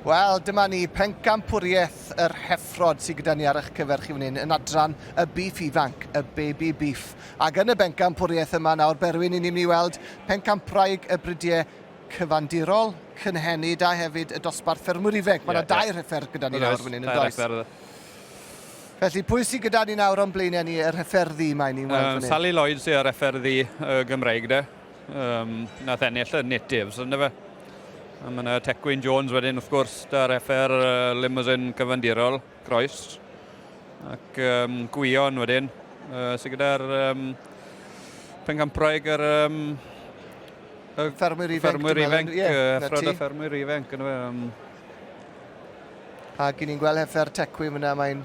Wel, dyma ni, pencampwriaeth yr heffrod sydd gyda ni ar eich cyfer chi fan yn adran y beef ifanc, y baby beef. Ac yn y bencampwriaeth yma nawr, Berwyn, i ni'n mynd i weld pencampwraig y bridiau cyfandirol, cynhenid a hefyd y dosbarth ffermwyr ifeg. Mae yna yeah, dau yeah. refer gyda ni nawr fan hyn, yn does? Felly, pwy sydd gyda ni nawr o'n blaenau ni, yr hyfferddi mae ni'n weld um, fan hyn? Sally Lloyd sydd ar hyfferddi uh, Gymreig, de? Um, nath ennill y Natives, ynddo fe? A mae yna Tecwyn Jones wedyn, wrth gwrs, da reffer uh, limousine cyfandirol, Croes. Ac um, Gwion wedyn, uh, sy'n gyda'r um, pengampraeg yr... Um, y ffermwyr ifanc. Ffermwyr ifanc, ffrod o ffermwyr ifanc, ynddo fe. Um, Ac ni'n gweld heffer tecwi fyna, mae'n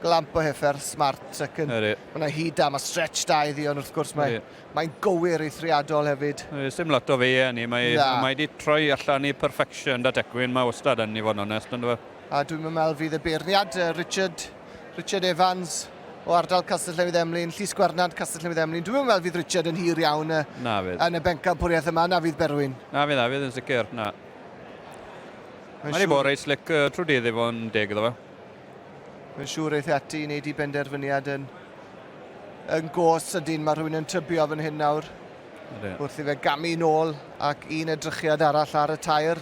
glamp o heffer smart ac yn... Mae'n hyd da, mae stretch da iddi, ond wrth gwrs mae Mae'n gywir eithriadol hefyd. Does dim lot o fe yn ni, mae wedi troi allan i perfection 'da Tecwyn, mae wastad yn i fod yn onest yn dyfe? A dwi'm yn meddwl fydd y beirniad, Richard, Richard Evans o ardal Castell Newydd Emlyn, Llys Gwernant, Castell Newydd Emlyn, dwi'm yn meddwl fydd Richard yn hir iawn yn y bencampwriaeth yma, na fydd Berwyn? Na fydd, na fydd yn sicr, na. Mae'n siŵr... bod reit slic trwy dydd i fod yn deg iddo fe. Mae'n siŵr eith ati i wneud i benderfyniad yn yn go sydyn. Mae rhywun yn tybio fan hyn nawr. Wrth i fe gamu nôl ac un edrychiad arall ar y tair.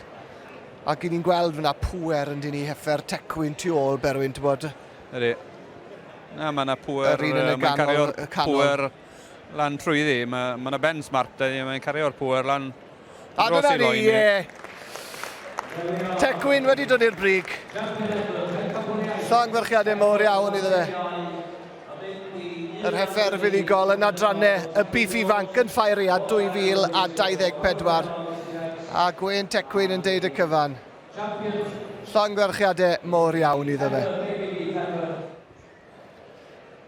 Ac i ni'n gweld fyna pwer yn dyn ni heffer tecwyn tu ôl Berwyn, ti'n bod? Ydy. Na, mae yna pwer. Yr un yn y ganol. Pwer lan trwy ddi. Mae yna ben smart, mae'n cario'r pwer lan. A dyna ni, ie. Tecwyn wedi dod i'r brig. Llongyfarchiadau mowr iawn iddo fe. Yr heffer fuddugol yn adrannau y bif ifanc yn ffaeria 2024. A Gwên Tecwyn yn deud y cyfan. Llongyfarchiadau mowr iawn iddo fe.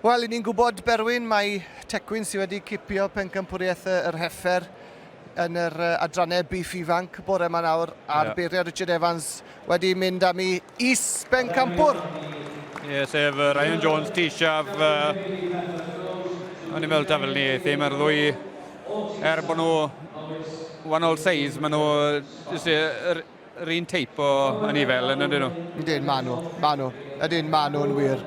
Wel, ni'n gwybod, Berwyn, mae Tecwyn sydd wedi cipio pencampwriaeth yr heffer yn yr adrannau Beef Ifanc bore yma nawr, a'r yeah. beiriau Richard Evans wedi mynd am i is bencampwr. Ie, yeah, sef Ryan Jones, Tishaf, uh, o'n i'n meddwl ta fel ni, ddim mae'r ddwy, er bod nhw wahanol seis, maen nhw, Yr un teip o anifail yn ydyn nhw? Ydyn, maen nhw. Maen nhw. Ydyn, maen nhw'n wir.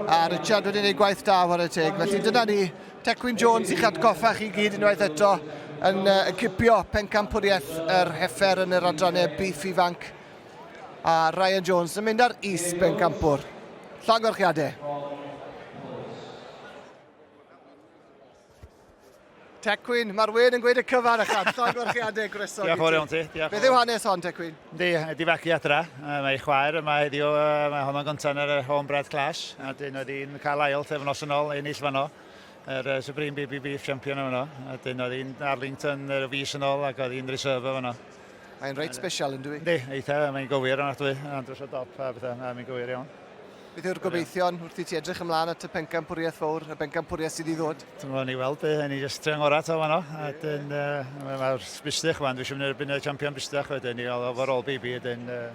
A Richard wedi gwneud gwaith da ar y teg. Felly dyna ni, Tecwyn Jones i'ch atgoffa chi gyd unwaith eto yn uh, cipio pencampwriaeth yr heffer yn yr adrannau biff ifanc. A Ryan Jones yn mynd ar is pencampwr. Llongorchiadau. Tecwyn, mae'r wên yn gweud y cyfan a chan llongyfarchiadau groeso Diolch yn fawr iawn ti. Diolch yn Beth yw hanes hon, Tecwyn? Yndi, mae 'di fagu adra. Yy, Mae ei chwaer yma heddiw, yy, mae honno'n gynta yn yr yy, Home Bread Clash, a dyn oedd hi'n cael ail thefnos yn ôl, ennill fanno, yr yy, Supreme Baby Beef Champion yn fanno, a dyn oedd hi'n Arlington yr y fis yn ôl ac oedd hi'n reserve fanno. Mae'n reit special yn dwi? Yndi, eitha, mae'n gywir yn adwy, yn andros o dop a bethau, na, mae'n gywir iawn. Beth yw'r gobeithion wrth i ti edrych ymlaen at y pencampwriaeth fawr, y bencampwriaeth sydd i ddod? Ti'n gwybod ni weld, hyn i jyst tre'n ngorau ta fanno. A dyn, uh, mae'r bistych fan, dwi'n siŵr mynd erbyn y champion bistych wedyn, i gael overall baby, dyn, uh,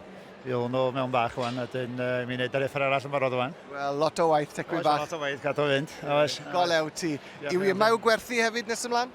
i ddod nhw mewn bach wan, a dyn uh, mi wneud yr effer arall yn barod wan. Wel, lot o waith, tecwi bach. Lot o waith, gadw fynd. Oes. Go lew ti. Iwi, mae yw gwerthu hefyd nes ymlaen?